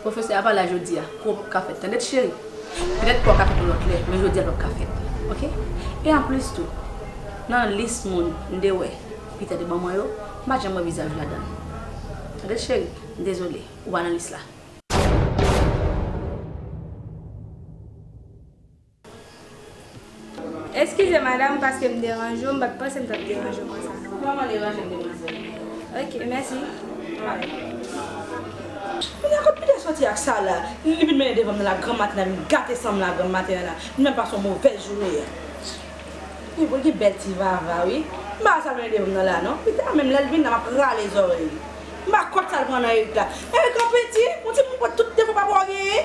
Profesè a pa la jodi a, kou an pap ka fèt tande ti cheri. Petèt kou a ka fèt yon lòt lè, men jodi a pap ka fèt ok. E anplis tou, nan lis moun m te wè Peter te ban mwen yo, m pa janm wè vizaj w ladan. Tande ti cheri, m dezole, ou pa nan lis la. Eskize madam paske m deranje w m pat panse m tap deranje w konsa. Ou pa man deranje m demwazèl. Ok mèsi. Kounya kot Peter soti ak sa la li vin mennen devanm nan la gran maten nan vin gate sanm la gran maten an la li menm pa son movèz joure a ui bon li gen bèl ti vava ui m pa wè sal mennen devanm nan la non Peter menm lèl vin la map rale zòrèy li m pa kont sal pran nan Erick la Erick anpè ti ou timoun pran tout defo papa w genyen.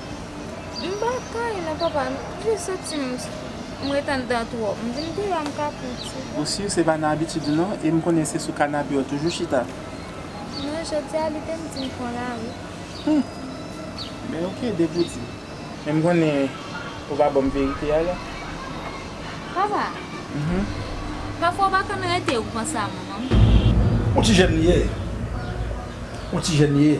Mpa kay nan papa m jis soti m ret andan twòp m vin deyò m kaput se tou. Ou sur se pa nan abitid ou non em konnen se sou kanape ou toujou chita. Non jodia li te m di m pran lari. Hum! Ben ok depi ou di. Men m konnen ou pa banm verite a la. Papa! Pafwa ou pa konn rete ou panse a manman m. Ou ti jèn li ye. Ou ti jèn li ye.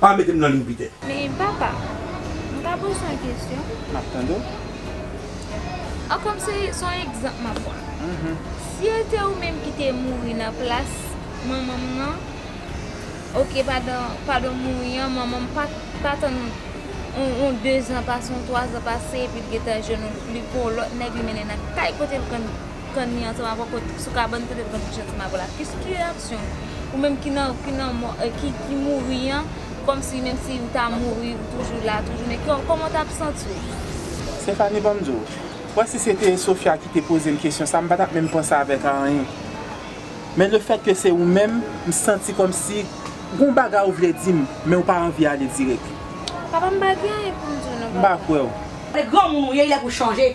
Pa mete m nan liy pite. Men papa, m ka poze w yon kesyon? M ap tande w. An kòm se yon egzanp m ap pran. Si e te ou menm ki te mouri nan plas manman m nan, ok padan, padan m mouri an, manman m pa tann yon dezan pase, yon twazan pase epi l gentan jwenn yon, li pran yon lòt nèg li mennen l nan kay kote l konn. kann li ansanm avè w kot sou kabann kote l pran ti jan ti mago la ki ki reyaksyon w ou menm ki nan ki nan mò ki mouri an kòmsi menm si ou ta mouri ou toujou la toujou men kòman w t ap santi w. Stéphanie ban m di w ou wè si se te Sofia ki te poze m kesyon sa m pa t ap menm panse avèk anyen men lefèt ke se ou menm m santi kòmsi gon bagay ou vle di m men ou pa anvi ale dirèk. Papa m pa gen anyen pou m di w non papa. M pa kwè w. Se granmoun ou ye li lè pou w chanje.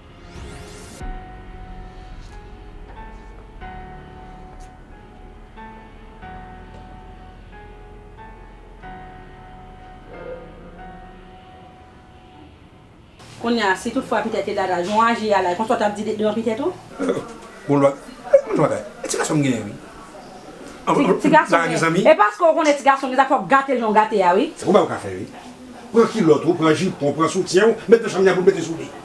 Kounye a, si tout fwa pitèt te dada, jan w aji a la, e konsa w t ap di devan pitèt ou? Bon lwa, e konn yon bagay, e ti gason m genyen wi. An konn lòt bagay gen zanmi. E paske w konnen ti gason gen zanmi fò w gate l jan w gate a wi. Se konn bagay w ka fè wi. Pran kilòt ou, pran jipon w, pran soutyen w, met nan chanm li a pou l mete sou li.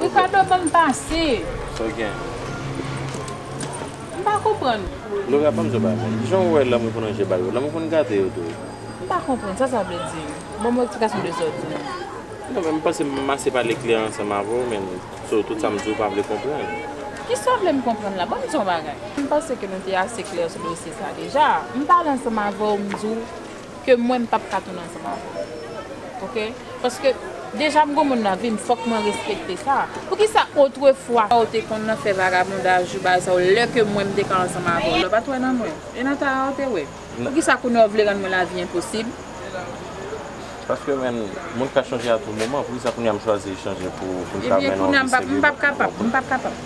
Ricardo banm pase. Sa w gen? M pa konprann ou. Laura banm zo ba mwen. Kijan w wè lanmou pou nan je ba yo? Lanmou konn gate yo tou. M pa konprann sa sa vle di. Banm yon eksplikasyon de sa w di lan. Non men m panse m ase pale klè ansanm avè w menn so tout sa m di w pa vle konprann. Kisa w vle m konprann la? Banm di w yon bagay. M panse ke nou te ase klè sou dosye sa deja. M pale ansanm avè w m di w. ke mwen m pap ka tounen ansanm avè w ok paske deja m gon moun nan vim fòk mwen respekte sa poukisa otrefwa sa w te konn nan fè vagabondaj ou bagay sa yo lè ke mwen m te ka ansanm avè w lè w pat wè nan mwen e nan tara w te wè poukisa kounye a w vle rann mwen lavi enposib paske menn moun ka chanje a tou moman poukisa kounye a m chwazi chanje pou m ka mennen w vi serye m pap kapab m pap kapab.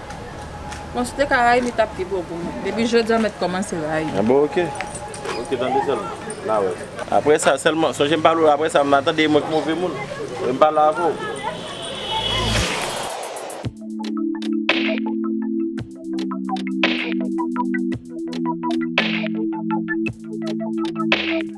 Bon si te ka rayi li tap pi bon pou mwen. Depi jodi an met komanse rayi. Ah bon ok. Ok tande selman na we. Apre sa selman sonje m pale w apre sa ma tande e mwen ki move moun e m pale avè w.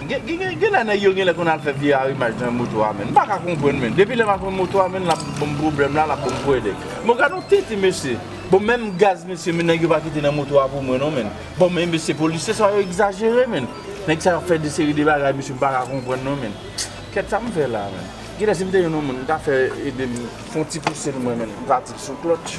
Genlè nèg yo genlè konn al fè vye arimaj nan moto a menn m paka konprann menn depi lèm ap konn moto a menn lap banm problèm la lap banm pwède bon gad yon tenten mesye bon menm gaz mesye menn nèg yo pa kite nan moto a pou mwen non menn bon men mesye polisye sa yo egzajere menn nèg sa yo ap fè de seri de bagay mesye m paka konprann non menn kèt sa m fè la menn genlè si m te yon moun m ta fè edem fon ti pouse l mwen menn m ta di l sou klòtch.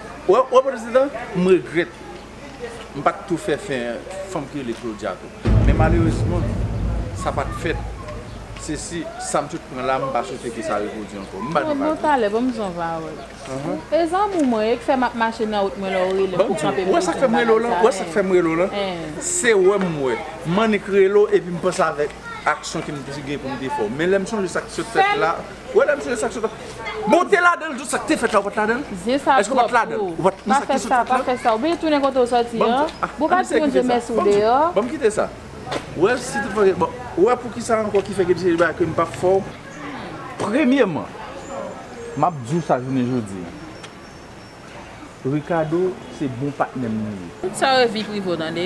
Wè prezidan, m regrèt m pa t tou fè fè fanm ki rele Claudia tou. Men malerezman, sa pa t fèt. Se si, sa m sot pran la, m pa swete ke sa repwodui ankò. M ba nou vag wi. Bon m son vawòl. E zanmi w mwen yo ki fè m ap mache nan wout mwen lè w rele m pou kanpe m bezwen m bagay sa. Wè sa k fè m rele w lan? Se wè m wè. M annik rele w epi m panse avèk aksyon ke m te gen pou m te fè w. Men lè m sonje sa k sot fèt la. Wèl msye sak sot la. Bon ou te ladanl tou sak te fèt la ou pat ladanl? Zen sa twòp pou ou. Pa fè sa, pa fè sa. Ou byen tounen kote ou sòti an. Bon pa di moun je mès ou deyò. Banm kite sa. Ou wè si tout fòkè bon. Ou wè poukisa ankò ki fè ke msye bay kem pap fò. Premyeman. Map di ou sa jounen jodi an. Ricardo se bon patnèm li ye. Tout sa yo vi prive w tande.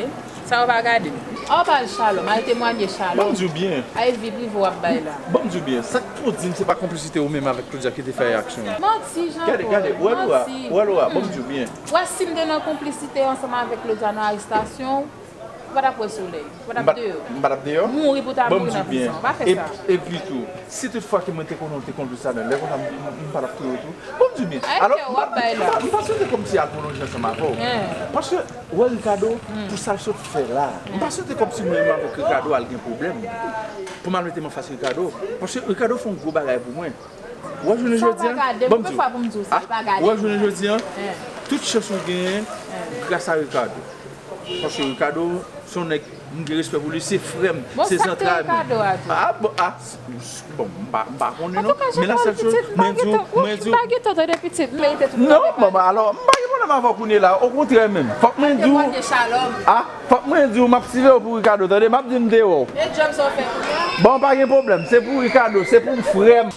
Sa yo pa gade. Aw pale shalom al temwanye shalom. Banm diw byen. Ay vi prive wap bay la. Banm diw byen. Sak pou dim se pa konplisite ou menm avèk Claudia kite fè aksyon an. Manti Jean Paul. Gade gade. Ou wè Laura. Ou wè Laura. Banm diw byen. Ou wè sim te nan konplisite ansanm avèk Claudia nan arestasyon w. Ou pa t ap wè solèy. Ou pa t ap deyò. M pa t ap deyò. Mouri pou w ta mouri nan prizon. Ou pa fè sa. Epi tou, si tout fwa ke mwen te konnen ou te kondwi sa byen, lè konsa m pa t ap touye w tou. Bon m di w byen. Ayi kè w ap bay la. M pa swete kòmsi apoloji ansanm avè w. Paske, ou wè Rikado, pou sa l sot fè la a. M pa swete kòmsi mwen menm avèk Rikado al gen pwoblèm. Pou m al mete m anfas Rikado. Paske Rikado fè yon gwo bagay pou mwen. Wap jounen jodi an, banm diw, ah, wap jounen jodi an, tout chans ou genyen gras a Ricardo. Paske Ricardo se yon nèg m gen respè pou li, se frèm, se zantray mwen. Bon sak te Ricardo a tou? Ah bon, ah, bon m pa, m pa konnen non. Antouka Jean Paul pitit, m pa gen tan, wouch, m pa gen tan tande pitit, m merite tout. Non, bon, alò, m pa gen pwoblèm avèw kounye la, okontrè menm, fòk mwen diw. Paske mwen gen shalom. Ah, Fòk mwen diw map sivew pou Ricardo tande map di mte wèw. E job sa w fè pou mwen. Bon pa gen pwoblèm se pou Ricardo se poum frèm.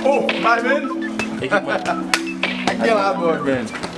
Oh my man. Ekip mwen. Ak gen la bòd man.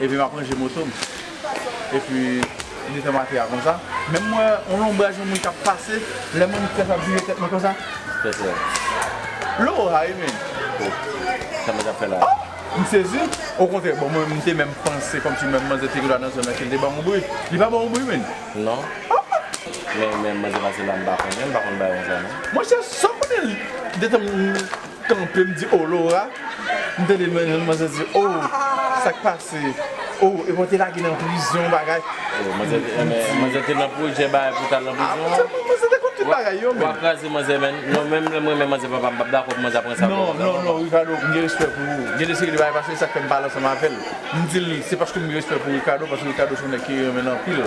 Epi map ranje moto m. Epi li fèm ate a konsa. Menm m wè yon lonbraj yon moun kap pase. Lè moun fè sa m vire tèt mwen konsa. Pèsè. Loro sa wi men. Oh! Sa manzè ap fè la? Oh! M sezi. Okontrè bon mwen m te menm panse kòmsi menm manzè te genlwa nan zòn nan ke l te banm yon bri. Li pa ban w yon bri menn? Non. Oh! Men manzè pase la m pa konnen. M pa konn bagay konsa non. Monchè sa w konnen detan m. kanpe m di oh Laura m tande men yon manzè di oh sak pase oh epi w te lage nan prizon bagay oh manzè te eh men manzè te nan projè bagay pou tal nan prizon ah bon manzè te konn tout bagay yo menn wap kraze manzè menn non menm lèm renmen manzè papa m pap dakò pou manzè ap pran sa non non non Ricardo m gen respè pou ou gen de seri de bagay pase esak fèm pale ansanm avèl m dil se paske m gen respè pou Ricardo paske Ricardo son nèg ki renmen l anpil.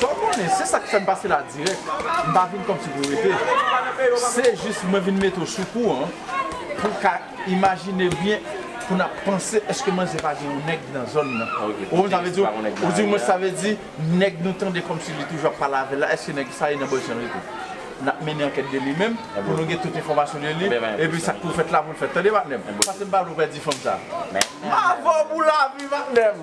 Fò w konnen, se sa k fè m pase la dirèk, m pa vin kòmsi pou rete. Se jis mwen vin mete w sou kou an pou w ka imajine byen pou n ap panse èske manzè pa gen yon nèg nan zòn nan. Ou konprann sa m vle di w? Ou di mwen sa vle di nèg nou tande kòmsi li toujou ap pale avè l la èske nèg sa li nan bòs jan l rete? N ap mennen ankèt de li menm pou nou gen tout enfòmasyon de li epi sa k pou fèt la pou l fèt. Tande patnè m, pase m pale w pèdi fanm sa a. M avè w pou lavi patnè m.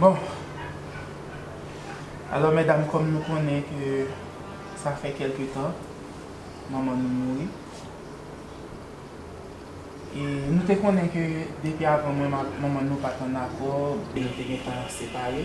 Bon Alò medam kòm nou konnen ke sa fè kelke tan manman nou mouri e nou te konnen ke depi avan mwen ak manman nou pat an akò, nou te gentan separe.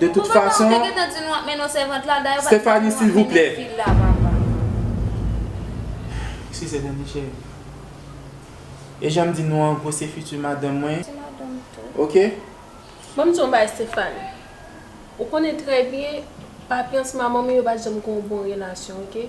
De tout fason Stephanie silvouplè Eskize danmi cheri E janm di nou an gwo se fiti madanm mwen Ok. Banm di w yon bagay Stéphanie ou konnen trè byen papyans manman m yo pat janm gen yon bon relasyon ok.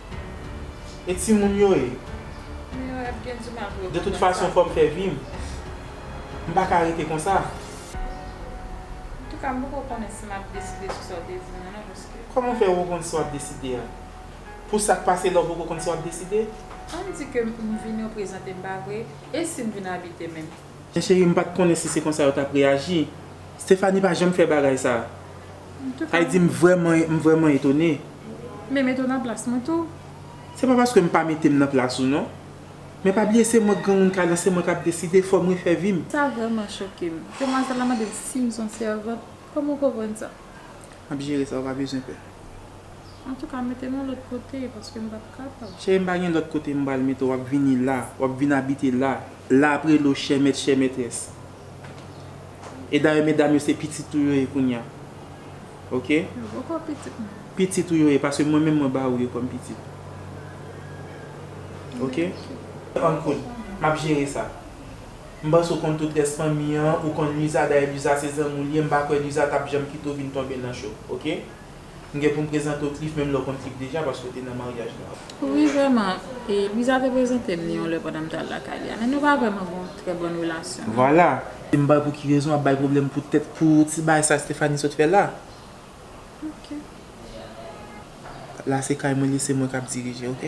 E timoun yo e? Timoun yo ap gen di mal pou yo konprann sa. De tout fason fòm fè vim. M pa ka rete konsa. Antouka m poko konnen si map deside sou sa w te dim nan non paske. Kòman w fè ou konn sa wap deside a? Pou sak pase la w poko konn sa wap deside? Ann di ke m vini w prezante m pa vre? E si m vin abite menm? Men cheri m pat konnen si se konsa yo tap reyaji. Stéphanie pa janm fè bagay sa. Heidi m vrèman m vrèman etone. Men mete w nan plas mwen tou. Se pa paske m pa mete m nan plas ou non. Men pa bliye se mwen k granmoun kay lan se mwen kap deside, fòm refè vi m. Sa vrèman choke m. Demwazèl la mande m si m son sèvant. Kòman w konprann sa? Map jere sa ou pa bezwen pè. Antouka mete m yon lòt kote paske m pap kapab. Cheri m pa gen lòt kote m pral mete w wap vini la, wap vin abite la. la ap rele w chè mèt chè mètrès. E dayè medam yo se pitit ou yo ye kounya. Ok. Yo poko pitit mwen. Pitit ou yo ye paske mwen menm mwen ba ou yo kòm pitit. Ok. An kout. M ap jere sa. M panse ou konn tout rès fanmi an, ou konn Luisa dayè Luisa se zanmi w li ye, m pa kwè Luisa t ap janm kite w vin tonbe nan cho. Ok. M gen pou m prezante w Cliff menm lè w konn Cliff deja paske w te nan maryaj la. Wi vrèman, e Louisa te prezante m li yon lè pandan m t al lakay li a. Men nou pa vrèman gen yon trè bòn relasyon non. Vwala. E m bay pou ki rezon w ap bay pwoblèm pou tèt pou ti bagay sa Stéphanie sot fè la. Ok. La se kay mwen li se mwen k ap dirije ok.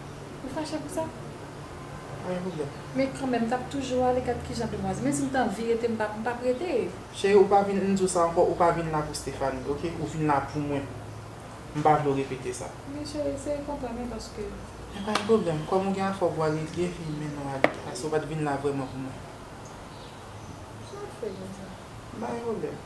Ou fache pou sa? Mwen ri a. Men kanmenm, m t ap toujou ale gad ki jan demwazèl. Menm si m t anvi rete, m pa m pa p rete. Cheri, ou pa vin, m di w sa ankò, ou pa vin la pou Stéphanie, ok? Ou vin la pou mwen. M pa vle w repete sa. Men cheri, eseye konprann mwen paske. Men pa gen pwoblèm. Kòm ou gen afè w pou w ale, li gen fini, mennen w ale. Paske ou pa t vin la vrèman pou mwen. Sa w ap fè jèn sa? M pa gen pwoblèm.